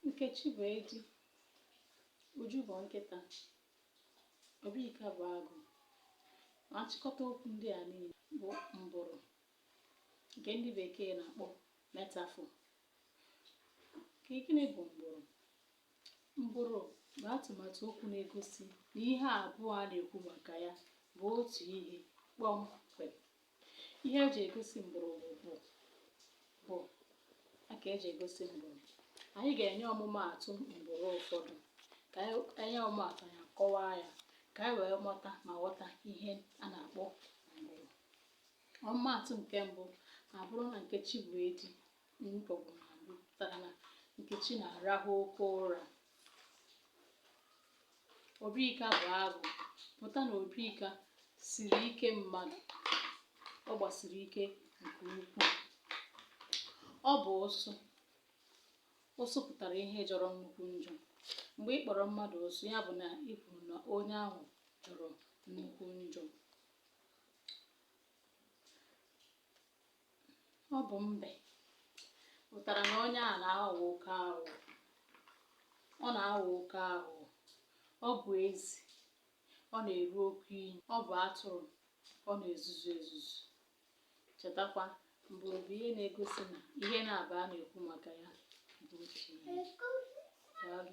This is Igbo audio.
Nkechi bụ edi, Uju bụ nkịta, Obika bụ agụ. Ma nchịkọta okwu ndị a niile bụ mbụrụ nke ndị bekee na-akpọ metaphor. Ka gịnị bụ mbụrụ? Mbụrụ bụ atụmatụ okwu na-egosi na ihe abụọ a na-ekwu maka ya bụ otu ihe kpọmkwem. Ihe eji egosi mbụrụ bụ bụ. Bụ a ka eji egosi mbụrụ. Anyị ga-enye ọmụmaatụ mbụrụ ụfọdụ ka e nye ọmụmaatụ ya kọwaa ya ka anyị wee mụta ma ghọta ihe a na-akpọ mbụrụ. Ọmụmaatụ nke mbụ abụrụ na Nkechi bụ edi pụtara na Nkechi na-arahụ oke ụra. Obika bụ agụ pụta na Obika siri ike mmadụ. Ọ gbasiri ike nke ukwuu. Ọ bụ ụsụ. Ụsụ pụtara ihe jọrọ nnukwu njọ. Mgbe ị kpọrọ mmadụ ụsụ, ya bụ na ị kwuru na onye ahụ jọrọ nnukwu njọ. ọ bụ mbe pụtara na onye a na-aghọ oke aghụghọ ọ na-aghọ oke aghụghọ ọ bụ ezi ọ na-eru oke inyi ọ bụ atụrụ ọ na-ezuzu ezuzu chetakwa mbụrụ bụ ihe na-egosi na ihe naabọ a na-ekwu maka ya bụ otu ihe daalụ